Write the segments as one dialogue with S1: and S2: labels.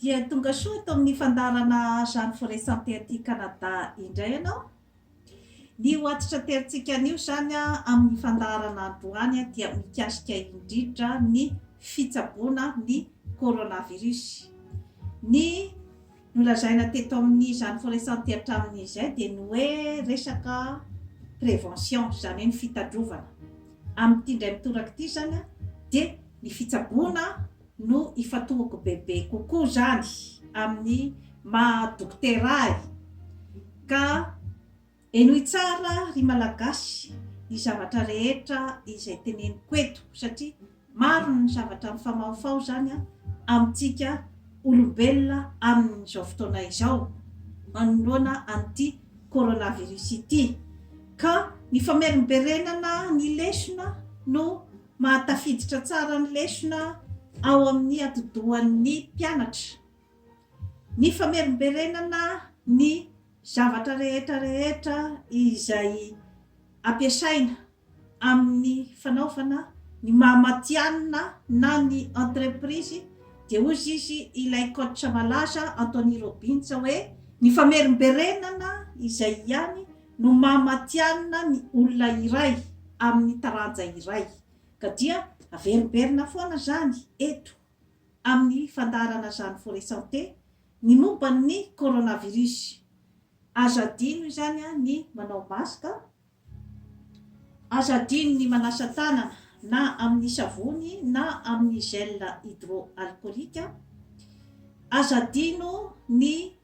S1: Dia tonga soa eto amin'ny fandaharana Jeanne Foresante aty Canada indray ianao. Ny ho antitraterantsika anio izany amin'ny fandaharana androany dia mikasika indrindra ny fitsaboana ny coronavirus. Ny nolazaina teto amin'ny Jeanne Foresante hatramin'izay dia ny hoe resaka prévention, izany hoe ny fitandrovana. Amin'ity indray mitoraka ity izany dia ny fitsaboana no ifatohiko bebe kokoa izany amin'ny maha dokotera ahy ka henoy tsara ry Malagasy ny zavatra rehetra izay teneniko eto satria maro ny zavatra mifamahofaho izany amintsika olombelona amin'izao fotoana izao manoloana an'ity coronavirus ity ka ny famerimberenana ny lesona no Mahatafiditra tsara ny lesona ao amin'ny atidohan'ny mpianatra ny famerimberenana ny zavatra rehetra rehetra izay ampiasaina amin'ny fanaovana ny maha matihanina na ny entreprise dia hozy izy ilay coach malaza Anthony Robbins hoe ny famerimberenana izay ihany no maha matihanina ny olona iray amin'ny taranja iray, ka dia averimberina foana izany eto amin'ny fandaharana Jeanne Forêt Santé ny momba ny coronavirus. Aza adino izany ny manao masque, aza adino ny manasa tanana na amin'ny savony na amin'ny gel hydroalcoolique, aza adino ny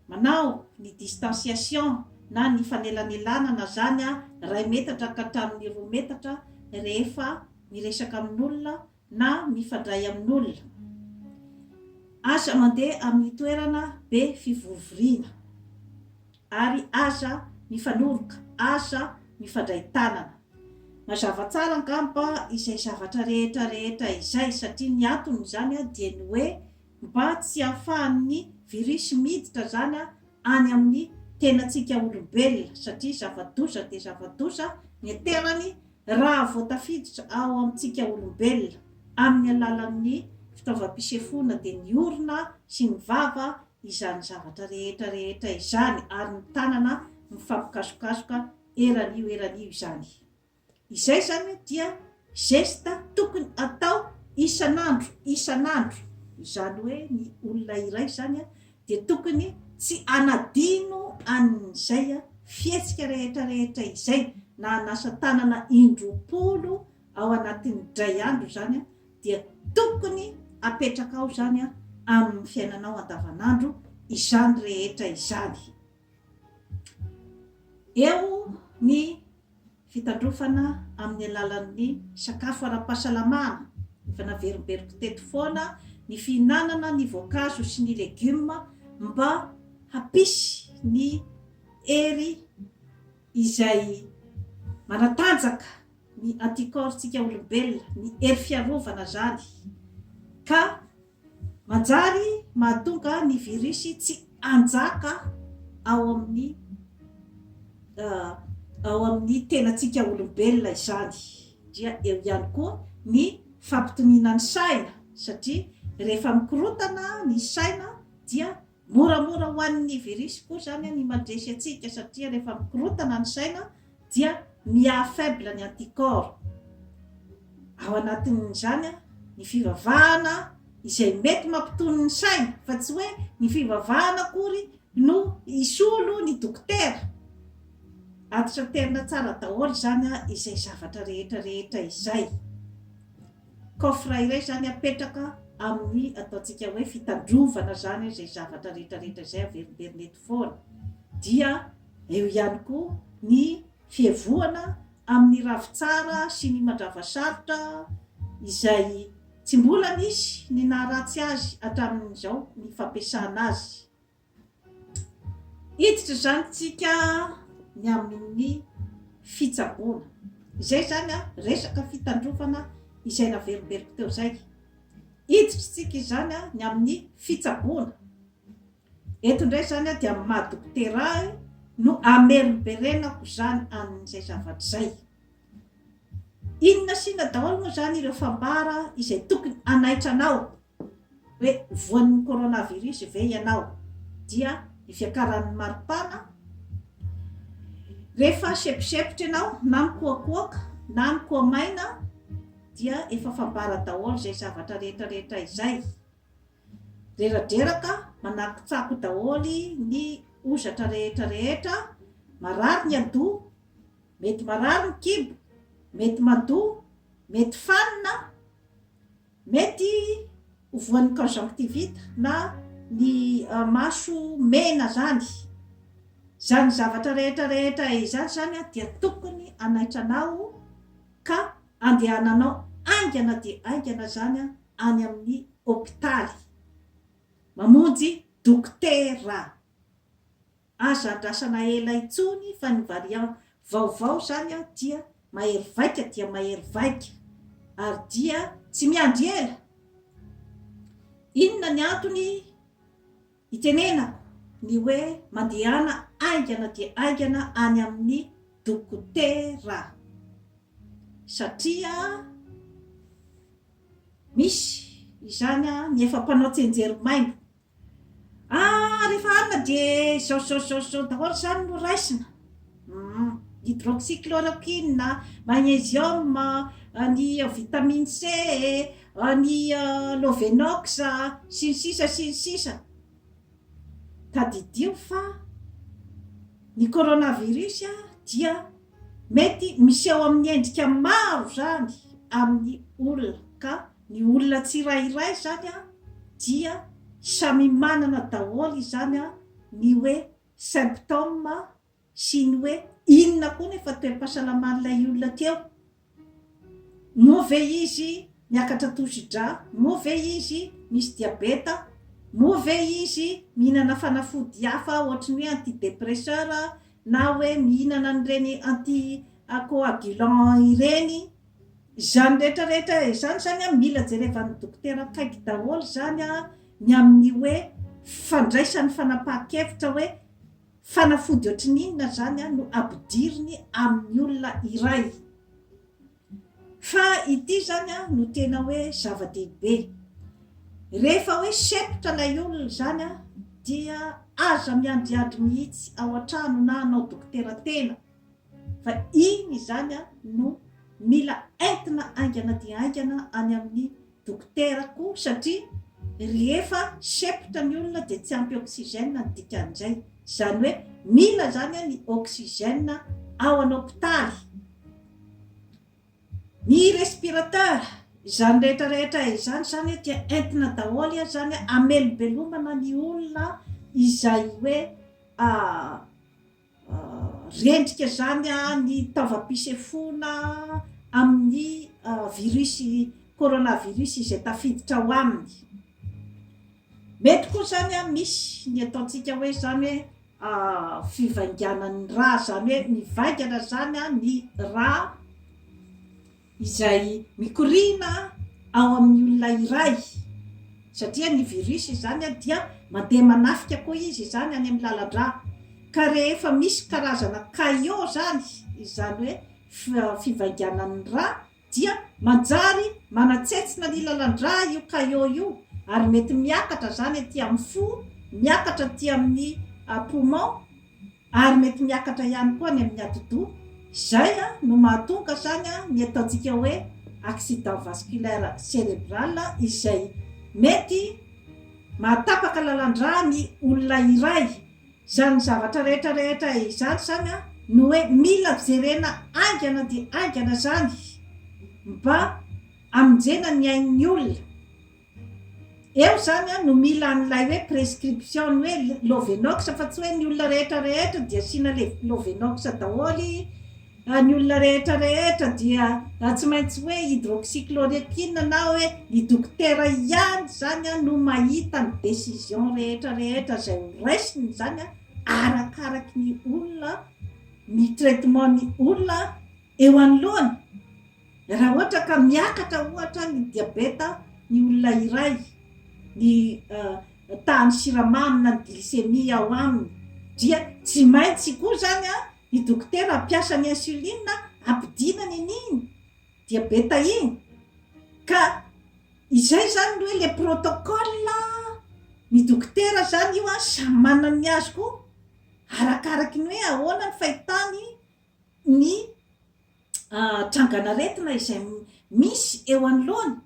S1: Manao ny distanciation na ny fanelanelanana zany iray metatra ka hatramin'ny roa metatra rehefa miresaka amin'olona na mifandray amin'olona. Aza mandeha amin'ny toerana be fivorivoriana ary aza mifanoroka, aza mifandray tanana. Mazava tsara angamba izay zavatra rehetra rehetra izay satria ny anton'izany dia ny hoe mba tsy hahafahan'ny virus miditra zana any amin'ny tenantsika olombelona satria zava-doza dia zava-doza ny aterany raha vao tafiditra ao amintsika olombelona amin'ny alalan'ny fitaovam-pisefoana dia ny orona sy ny vava izany zavatra rehetra rehetra izany ary ny tanana mifampikasokasoka eran'io eran'io izany. Izay izany dia geste tokony atao isan'andro, isan'andro. Izany hoe ny olona iray izany dia tokony tsy hanadino an'izay fihetsika rehetra rehetra izay, na hanasa tanana indroapolo ao anatin'ny dray andro izany dia tokony apetraka ao izany amin'ny fiainanao andavan'andro izany rehetra izany. Eo ny fitandrofana amin'ny alalan'ny sakafo ara-pahasalamana, efa naveriberiko teto foana ny fihinanana ny voankazo sy ny legioma mba hampisy ny hery izay manatanjaka ny anticorps-tsika olombelona, ny hery fiarovana zany ka Manjary mahatonga ny virus tsy hanjaka ao amin'ny ao amin'ny tenantsika olombelona izany. Dia eo ihany koa ny fampitoniana ny saina satria rehefa mikorontana ny saina dia Moramora ho an'ny virus koa izany ny mandresy antsika satria rehefa mikorotana ny saina dia mi-affaible ny anticorps. Ao anatin'izany ny fivavahana izay mety mampitony ny saina fa tsy hoe ny fivavahana akory no hisolo ny dokotera. Antitraterina tsara daholo izany izay zavatra rehetra rehetra izay. Coffre iray izany apetraka amin'ny ataontsika hoe fitandrovana izany izay zavatra rehetra rehetra izay averimberina eto foana. Dia eo ihany koa ny fihevohana amin'ny ravitsara sy ny mandravasarotra izay tsy mbola nisy ny naharatsy azy hatramin'izao ny fampiasana azy. Hiditra izany isika ny amin'ny fitsaboana. Izay izany resaka fitandrovana izay naverimberiko teo izay. Hiditra isika izany ny amin'ny fitsaboana. Eto indray izany dia ny maha dokotera ahy no hamerimberenako izany an'izay zavatra izay. Inona sy inona daholo moa izany ireo fambara izay tokony hanaitra anao Hoe voan'ny coronavirus ve ianao? Dia ny fiakaran'ny maripana, rehefa seposepotra ianao na mikoakoaka na mikoamaina dia efa fambara daholo izay zavatra rehetra rehetra izay. Reradreraka, manakotsako daholo ny hozatra rehetra rehetra, marary ny adoha, mety marary ny kibo, mety madoa, mety fanina, Mety ho voan'ny conjonctivite na ny maso mena zany. Zany zavatra rehetra rehetra izany zany an dia tokony anaitranao ka andehananao aingana dia aingana zany an any amin'ny hopitaly mamonjy dokotera. Aza andrasana ela intsony fa ny variant vaovao zany an dia mahery vaika dia mahery vaika ary dia tsy miandry ela! Inona ny antony itenenako ny hoe mandehana haingana dia haingana any amin'ny dokotera? Satria misy izany an ny efa mpanao tsenjery maimbo Ah rehefa alina dia izao izao izao izao daholo izany no raisina. Hum, hydroxychloroquine, magnésium, ny vitamine C, ny lovenox sy ny sisa sy ny sisa. Tadidio fa ny coronavirus dia mety miseho amin'ny endrika maro izany amin'ny olona ka. Ny olona tsirairay izany dia samy manana daholo izany ny hoe symptômes sy ny hoe inona koa nefa toe-pahasalaman'ilay olona aty eo. Moa ve izy miakatra tosi-drà? Moa ve izy misy diabeta? Moa ve izy mihinana fanafody hafa ohatry ny hoe anti-dépresseur na hoe mihinana an'ireny anti-coagulant ireny? Izany rehetra rehetra izany zany an mila jerevan'ny dokotera akaiky daholo izany an ny amin'ny hoe fandraisany fanapahan-kevitra hoe fanafody ohatry ny inona izany an no ampidiriny amin'ny olona iray fa ity izany an no tena hoe zava-dehibe rehefa hoe sempotra ilay olona izany an dia aza miandriandry mihitsy ao an-trano na hanao dokotera tena Fa iny izany no mila entina haingana dia haingana any amin'ny dokotera koa satria rehefa sepotra ny olona dia tsy ampy oxygène ny dikan'izay. Izany hoe mila izany ny oxygène ao an'hopitaly, ny respirateur, izany rehetra rehetra izany izany dia entina daholo izany hamelobelomana ny olona izay hoe Rendrika izany ny taovam-pisefoana amin'ny virus coronavirus izay tafiditra ao aminy. Mety koa izany misy ny ataontsika hoe izany hoe fivainganan'ny ra, izany hoe mivaingana izany ny ra. izay mikoriana ao amin'ny olona iray satria ny virus izany dia mandeha manafika koa izy izany any amin'ny lalan-drà ka rehefa misy karazana caillot izany, izany hoe fivainganan'ny rà dia manjary manatsentsina ny lalan-drà io caillot io ary mety miakatra izany aty amin'ny fo, miakatra aty amin'ny poumon. Ary mety miakatra ihany koa ny amin'ny atidoha. Izay no mahatonga izany ny ataontsika hoe accident vasculaire cérébral izay mety mahatapaka lalan-dra ny olona iray. Izany zavatra rehetra rehetra izany izany no hoe mila jerena haingana dia haingana izany mba hamonjena ny ain'ny olona. Eo izany an no mila an'ilay hoe prescription ny hoe lovenox fa tsy hoe ny olona rehetra rehetra dia asiana le lovenox daholo an ny olona rehetra rehetra dia tsy maintsy hoe hydroxychloroquine na hoe ny dokotera ihany izany an no mahita ny decision rehetra rehetra izay ho raisiny izany an arakaraky ny olona ny traitement ny olona eo anoloany Raha ohatra ka miakatra ohatra ny diabeta ny olona iray, ny tahan'ny siramamy na ny glycémie ao aminy, dia tsy maintsy koa izany ny dokotera hampiasa ny insuline hampidinana an'iny diabeta iny. Ka izay izany no hoe ilay protocole ny dokotera izany io samy manana ny azy koa arakaraky ny hoe ahoana ny fahitany ny trangan'aretina izay misy eo anoloany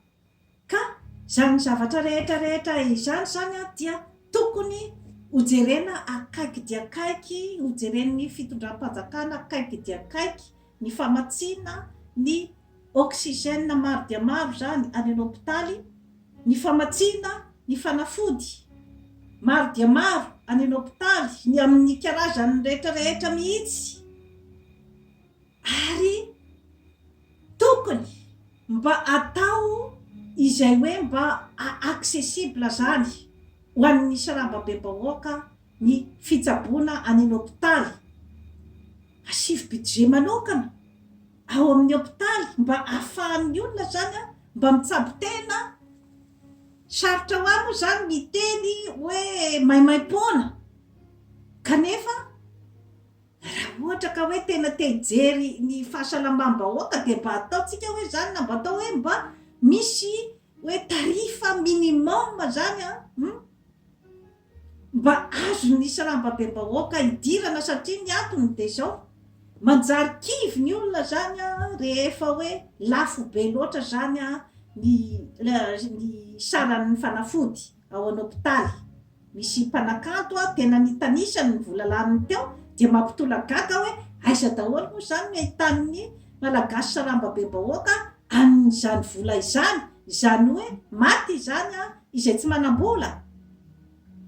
S1: ka izany zavatra rehetra rehetra izany izany dia tokony hojerena akaiky dia akaiky, hojeren'ny fitondram-panjakana akaiky dia akaiky ny famatsiana ny oxygène maro dia maro izany any an'hopitaly, ny famatsiana ny fanafody maro dia maro any an'hopitaly, ny amin'ny karazany rehetra rehetra mihitsy. Ary tokony mba atao izay hoe mba accessible zany ho an'ny saramba be bahoaka ny fitsaboana any hopitaly. Asivo budget manokana ao amin'ny hopitaly mba afahan'ny olona zany mba mitsabo tena. Sarotra hoa moa zany miteny hoe maimaimpoana kanefa. Raha ohatra ka hoe tena te hijery ny fahasalamam-bahoaka dia mba ataontsika hoe izany na mba atao hoe mba misy hoe tarif minimum izany an! mba azon'ny salambabem-bahoaka hidirana satria ny antony dia izao, manjary kivy ny olona izany an! rehefa hoe lafo be loatra izany an! ny ny saran'ny fanafody. ao an hopitaly. Misy mpanakanto a tena nitanisany ny vola laniny teo dia mampitolak gaga hoe aiza daholo moa izany no ahitan ny Malagasy saramba be bahoaka an izany vola izany, izany hoe maty izany an izay tsy manambola.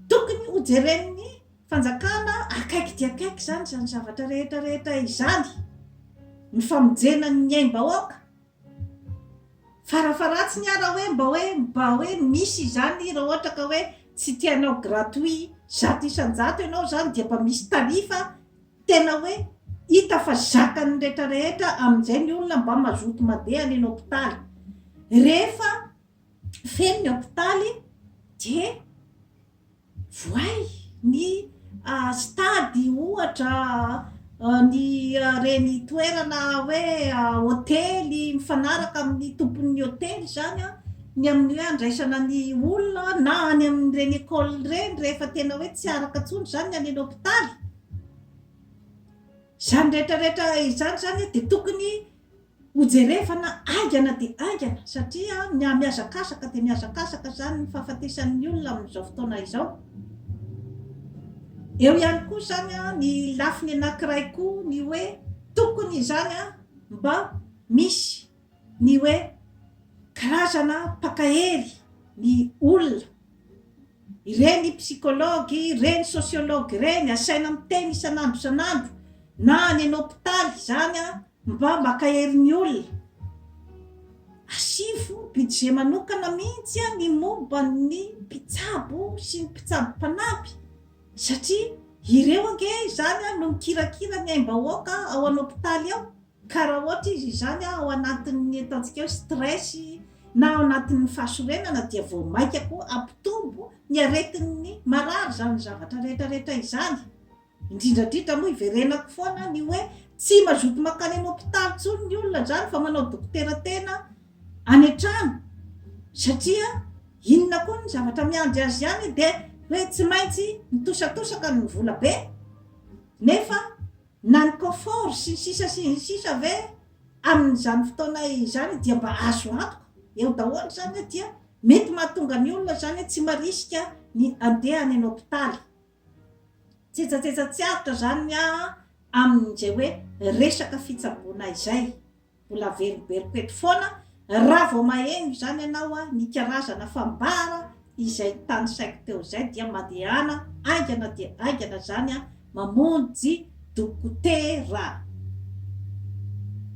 S1: Tokony ho jeren ny fanjakana akaiky dia akaiky izany izany zavatra rehetra rehetra izany. Ny famonjena ny aim bahoaka Farafaharatsiny ara hoe mba hoe mba hoe misy izany raha ohatra ka hoe tsy te hanao gratuit zato isan-jato ianao izany dia mba misy tarif tena hoe hita fa zakan'ny rehetra rehetra amin'izay ny olona mba mazoto mandeha any hopitaly. Rehefa feno ny hopitaly dia. Voay ny stade ohatra, ny ireny toerana hoe hotely mifanaraka amin'ny tompon'ny hotely izany an, ny amin'ny hoe handraisana ny olona na any amin'ireny école ireny rehefa tena hoe tsy araka intsony izany ny any amin'ny hopitaly. Izany rehetra rehetra izany izany dia tokony Hojerevana haingana dia haingana satria ny hamihazakazaka dia mihazakazaka izany ny fahafatesan'ny olona amin'izao fotoana izao. Eo ihany koa izany ny lafiny anankiray koa ny hoe tokony izany mba misy ny hoe karazana mpankahely ny olona. Ireny psychologue, ireny sociologue ireny asaina miteny isan'andro isan'andro na any an'hopitaly izany Mba maka herin'ny olona. Asivo budget manokana mihitsy an ny momba ny mpitsabo sy ny mpitsabo mpanampy satria ireo ange izany an no mikirakira ny aim-bahoaka ao an hopitaly ao ka raha ohatra izy izany an ao anatin'ny ataontsika hoe stress na ao anatin'ny fahasorenana dia vao maika koa hampitombo ny aretin'ny marary izany zavatra rehetra rehetra izany. Indrindra indrindra moa iverenako foana ny hoe tsy mazoto mankany any hopitaly intsony ny olona izany fa manao dokotera tena any an-trano satria inona koa ny zavatra miandry azy ihany dia hoe tsy maintsy mitosatosaka ny vola be nefa na ny confort sy ny sisa sy ny sisa ve amin'izany fotoana izany dia mba azo antoka eo daholo izany dia mety mahatonga ny olona izany tsy marisika ny andeha any any hopitaly. Tsetsatsetsa tsy avotra zany ny ahy an, amin'izay hoe resaka fitsaboana izay. Mbola averimberiko eto foana, raha vao maheno izany ianao an, ny karazana fambara izay tanisaiko teo izay dia mandehana haingana dia haingana izany an, mamonjy dokotera.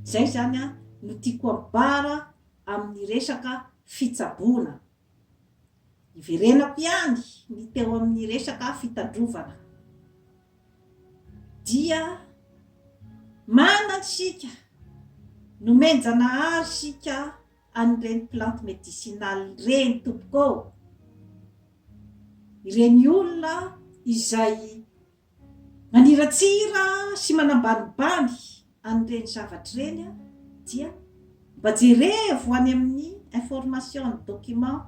S1: Izay izany an no tiako ambara amin'ny resaka fitsaboana. Hiverenako ihany ny teo amin'ny resaka fitandrovana. Dia manan isika, nomen-janahary isika an'ireny plante medicinale ireny tompoko ô. Ireny olona izay Maniratsira sy manambanibany an'ireny zavatra ireny aho dia mba jerevo any amin'ny information and document,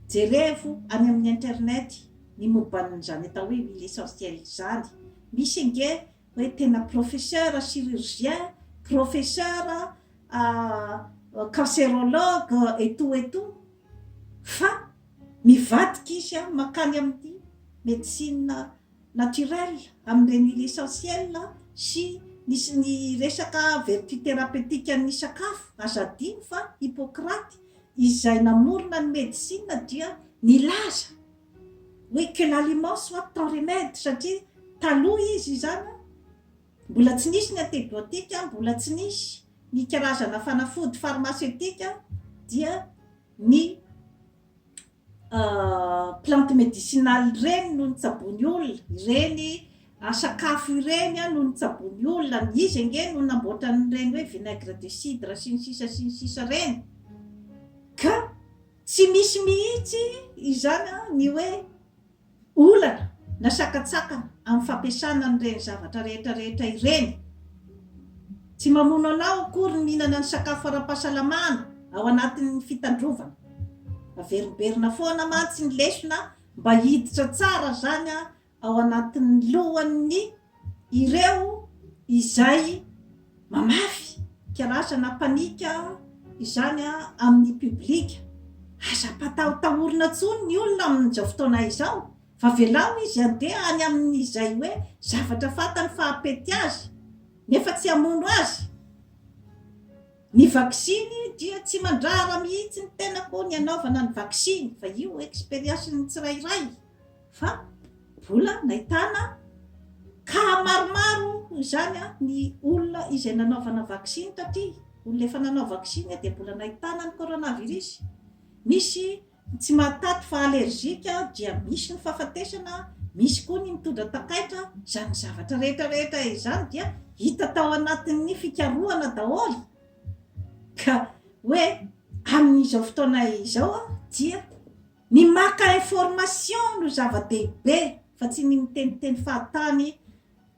S1: jerevo any amin'ny internet ny momban'izany atao hoe huile essentielle izany. Misy ange hoe tena professeur chirurgien, professeur cancérologue et tout et tout fa. Mivadika izy mankany amin'ny médecine naturelle, amin'ireny huile essentielle sy ny sy ny resaka vertu thérapeutique-n'ny sakafo. Aza adino fa Hippocrate izay namorona ny medisina dia nilaza hoe que l'aliment soit ton remède, satria taloha izy izany mbola tsy nisy ny antébiotiques, mbola tsy nisy ny karazana fanafody pharmaceutique dia ny plante medicinale ireny no nitsaboan'ny olona, ireny sakafo ireny no nitsaboan'ny olona, izy ange no namboatra an'ireny hoe vinaigre de cidre sy ny sisa sy ny sisa ireny, ka tsy misy mihitsy izany ny hoe olana na sakantsakana amin'ny fampiasana an'ireny zavatra rehetra rehetra ireny. Tsy mamono anao akory ny mihinana ny sakafo ara-pahasalamana ao anatin'ny fitandrovana. Averimberina foana mantsy ny lesona mba hiditra tsara izany ao anatin'ny lohan'ny. ireo izay mamafy kalaza na mpanika izany amin'ny public, aza ampatahotahorina intsony ny olona amin'izao fotoana izao fa velao izy handeha any amin'izay hoe zavatra fantany fa hampety azy nefa tsy hamono azy, ny vaksiny dia tsy mandrara mihitsy ny tenako ny hanaovana ny vaksiny fa io experience-n'ny tsirairay. Fa mbola nahitana cas maromaro izany ny olona izay nanaovana vaksiny taty, olona efa nanao vaksiny dia mbola nahitana ny coronavirus. Misy tsy mahataty fa allergique dia misy ny fahafatesana, misy koa ny mitondra takaitra, izany zavatra rehetra rehetra izany dia hita tao anatin'ny fikarohana daholo ka hoe amin'izao fotoana izao dia. Ny maka information no zava-dehibe fa tsy ny miteniteny fahatany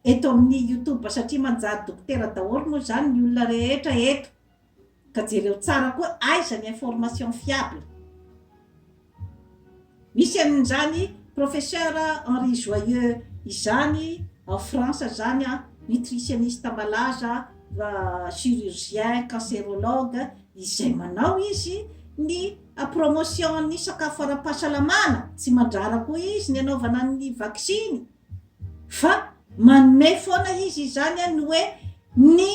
S1: eto amin'ny youtube satria manjary dokotera daholo moa izany ny olona rehetra eto ka jereo tsara koa aiza ny information fiable. Misy an'izany professeur Henri Joyeux izany ao France izany an, nutritionniste malaza, chirurgien, cancerologue, izay manao izy ny. A Promotion ny sakafo ara-pahasalamana, tsy mandrara koa izy ny anaovana ny vaksiny fa manome foana izy izany ny hoe ny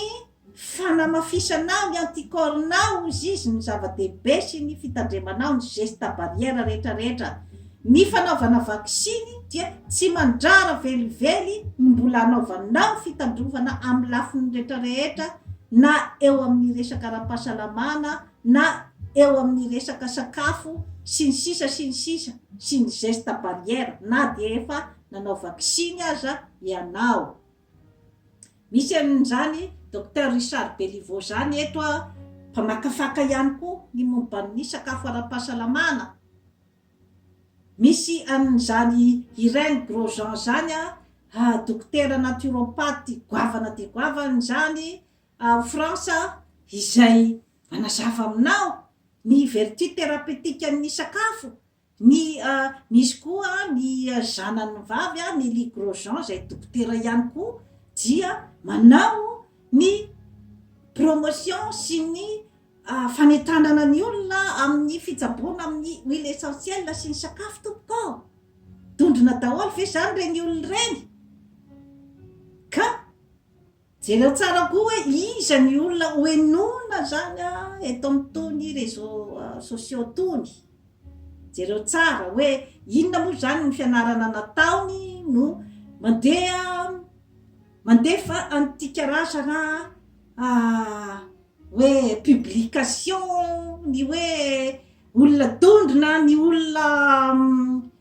S1: fanamafisanao ny anticorps-nao hozy izy ny zava-dehibe sy ny fitandremanao ny geste barrière rehetra rehetra. Ny fanaovana vaksiny dia tsy mandrara velively ny mbola anaovanao fitandrovana amin'ny lafiny rehetra rehetra na eo amin'ny resaka ara-pahasalamana na eo amin'ny resaka sakafo sy ny sisa sy ny sisa sy ny geste barrière na dia efa nanao vaksiny aza ianao. Misy an'izany Docteur Richard Beliveau izany eto a, mpamakafaka ihany koa ny momba ny sakafo ara-pahasalamana. Misy an'izany Irène Grosjean izany a, dokotera naturopathe goavana dia goavana izany, Ao Frantsa izay manazava aminao ny vertu thérapeutique ny sakafo, ny misy koa ny zanany vavy Nelly Grosjean izay dokotera ihany koa dia manao ny promotion sy ny fanentanana ny olona amin'ny fitsaboana amin'ny huile essentielle sy ny sakafo tompoko ô! Dondrona daholo ve izany ireny olona ireny ka? Jereo tsara koa hoe iza ny olona ho henoina zany eto amin'ny tony réseaux sociaux tony. Jereo tsara hoe inona moa zany ny fianarana nataony no mandeha mandefa antika rasa raha hoe publication ny hoe olona dondrona ny olona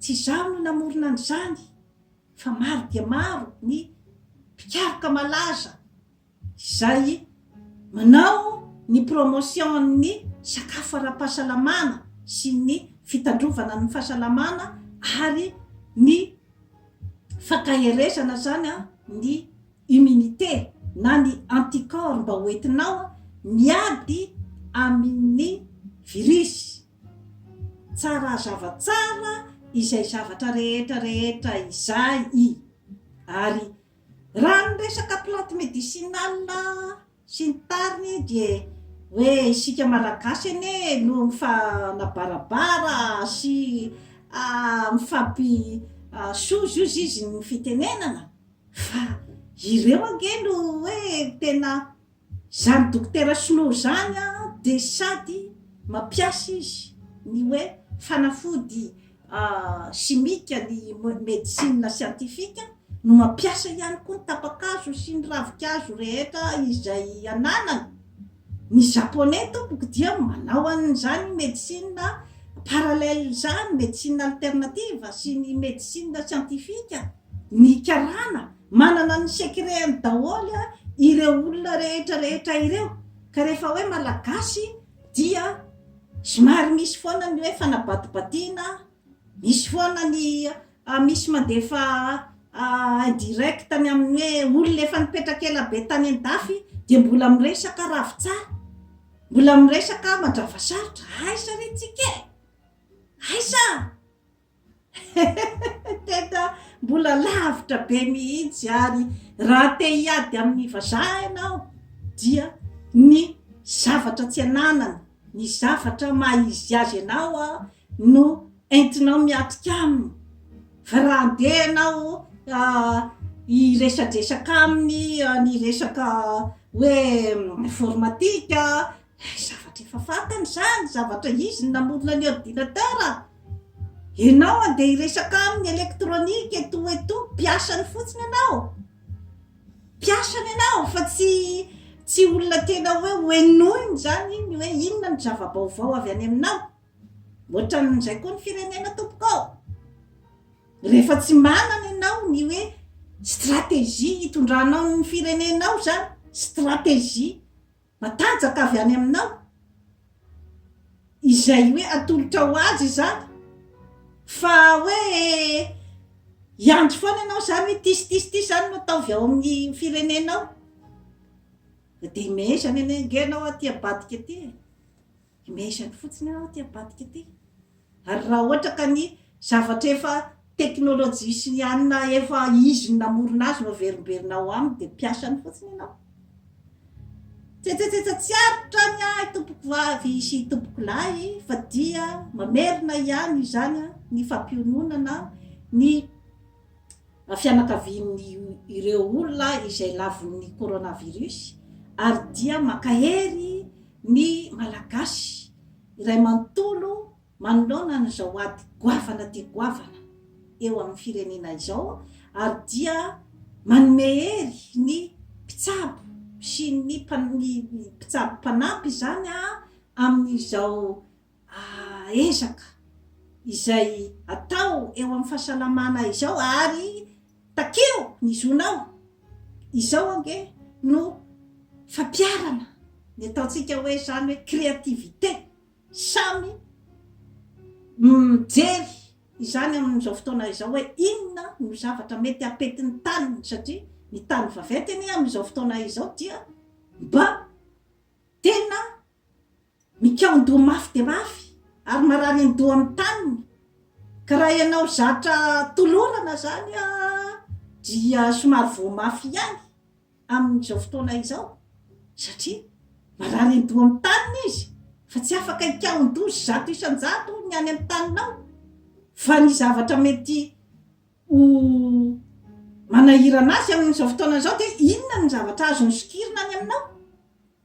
S1: Tsy izaho no namorona an'izany fa maro dia maro ny mpikaroka malaza izay manao ny promotion-n'ny sakafo ara-pahasalamana sy ny fitandrovana ny fahasalamana ary ny fankaherezana izany ny immunité na ny anticorps mba hoentinao miady amin'ny virus. Tsara hazava tsara izay zavatra rehetra rehetra izay i. Ary raha ny resaka plante médicinale sy ny tariny dia hoe isika malagasy anie no mifanabarabara sy mifampisozozo izy ny fitenenana fa ireo ange no hoe tena Zany dokotera sinoa zany de sady mampiasa izy ny hoe fanafody simika ny medecine scientifique no mampiasa ihany koa ny tapakazo sy ny ravikazo rehetra izay ananany ny japonais tompoko dia manao an'izany medecine parallèle zany medecine alternative sy ny medecine scientifique Ny karana manana ny secret-ny daholo ireo olona rehetra rehetra ireo ka rehefa hoe malagasy dia somary misy foana ny hoe fanabatibatiana, misy foana ny misy mandefa indirect ny amin'ny hoe olona efa nipetraka ela be tany an-dafy dia mbola miresaka ravitsara, mbola miresaka mandravasarotra, aiza re tsika e! aiza! Tena mbola lavitra be mihitsy ary raha te hiady amin'ny vazaha ianao dia ny zavatra tsy ananany, ny zavatra maha izy azy anao no entinao miatrika aminy fa raha andeha ianao hiresadresaka aminy ny resaka hoe informatique. Hay zavatra efa fantany izany, zavatra izy no namorona ny ordinateur. Ianao andeha hiresaka aminy électronique et tout et tout, mpiasany fotsiny ianao. Mpiasany ianao fa tsy tsy olona tena hoe hohenoiny izany iny hoe inona no zava-baovao avy any aminao. Ohatran'izay koa ny firenena tompoko ô. Rehefa tsy manana ianao ny hoe stratégie hitondranao ny firenenao izany, stratégie. Matanjaka avy any aminao izay hoe atolotra ho azy izany fa hoe hiandry foana ianao izany hoe ity sy ity sy ity izany no ataovy ao amin'ny firenenao. Dia mehezana anie ange ianao aty ambadika aty e! Imagine fotsiny aho ity ambadika ity. Ary raha ohatra ka ny zavatra efa teknolojia sy ny anona efa izy no namorona azy no averimberina ao aminy dia mpiasany fotsiny ianao. Tsetsetsetse tsy aritra ny ahy tompoko vavy sy tompoko lahy fa dia mamerina ihany izany ny fampiononana ny fianakavian'ireo olona izay lavon'ny coronavirus ary dia mankahery ny Malagasy iray manontolo manoloana an'izao ady goavana dia goavana eo amin'ny firenena izao ary dia manome hery ny mpitsabo sy ny mpitsabo mpanampy izany amin'izao ezaka izay atao eo amin'ny fahasalamana izao ary takeo ny zonao, izao ange no fampiharana ny ataontsika hoe izany hoe créativité, samy mijery izany amin'izao fotoana izao hoe inona no zavatra mety hapety ny taniny satria ny tany vaventy anie amin'izao fotoana izao dia mba tena Mikaon-doha mafy dia mafy ary marary ny doha amin'ny taniny. Ka raha ianao zatra tolorana izany dia somary voa mafy ihany amin'izao fotoana izao satria marary ny doha amin'ny taniny izy fa tsy afaka hikaon-doha zato isan-jato ny any amin'ny taninao fa ny zavatra mety ho manahirana azy amin'izao fotoana izao dia inona ny zavatra azony sokirina any aminao?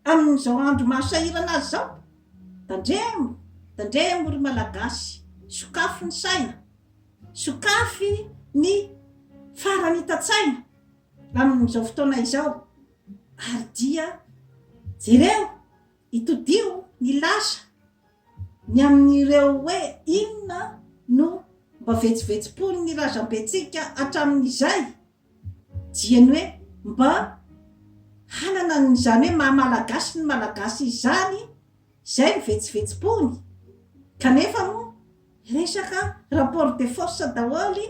S1: Amin'izao andro mahasahirana azy izao? Tandremo, tandremo ry Malagasy, sokafy ny saina, sokafy ny faranitan-tsaina amin'izao fotoana izao ary dia jereo, itodiho ny lasa ny amin'ireo hoe inona no mba vetsovetsom-pon'ny razambentsika hatramin'izay. Diany hoe mba hanana an'izany hoe maha Malagasy ny Malagasy izany izay ny vetsovetsom-pony. Kanefa moa resaka rapport de force daholo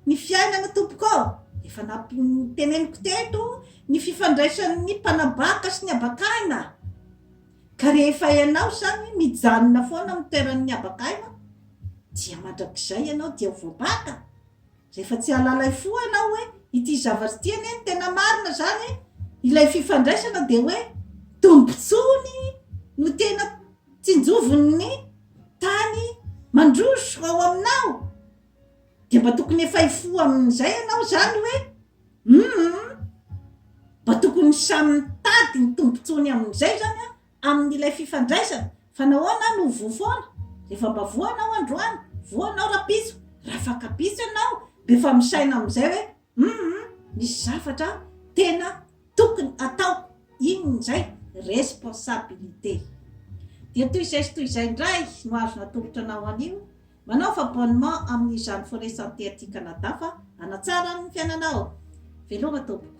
S1: ny fiainana tompoko ô! Efa nampi-teneniko teto ny fifandraisan'ny mpanabaka sy ny abak'aina. Ka rehefa ianao izany mijanona foana amin'ny toeran'ny abak'aina dia mandrakizay ianao dia ho voabaka. Rehefa tsy halalay fo ianao hoe ity zavatra ity anie no tena marina izany e! ilay fifandraisana dia hoe tombontsoany no tena tsinjovin'ny tany mandroso ao aminao dia mba tokony efa hifoha amin'izay ianao izany hoe hum mba tokony samy mitady ny tombontsoany amin'izay izany an amin'ilay fifandraisana fa nahoana no voa foana? Efa mba voa anao androany? Voa anao rapitso? Raha fankapitso ianao dia efa misaina amin'izay hoe humm misy zavatra tena tokony atao, inona izay? Responsabilité. Dia toy izay sy toy izay indray no azo natolotra anao anio, manaova abonnement amin'izany Forêt Santé aty Canada fa hanatsara ny fiainanao. Veloma tompoko.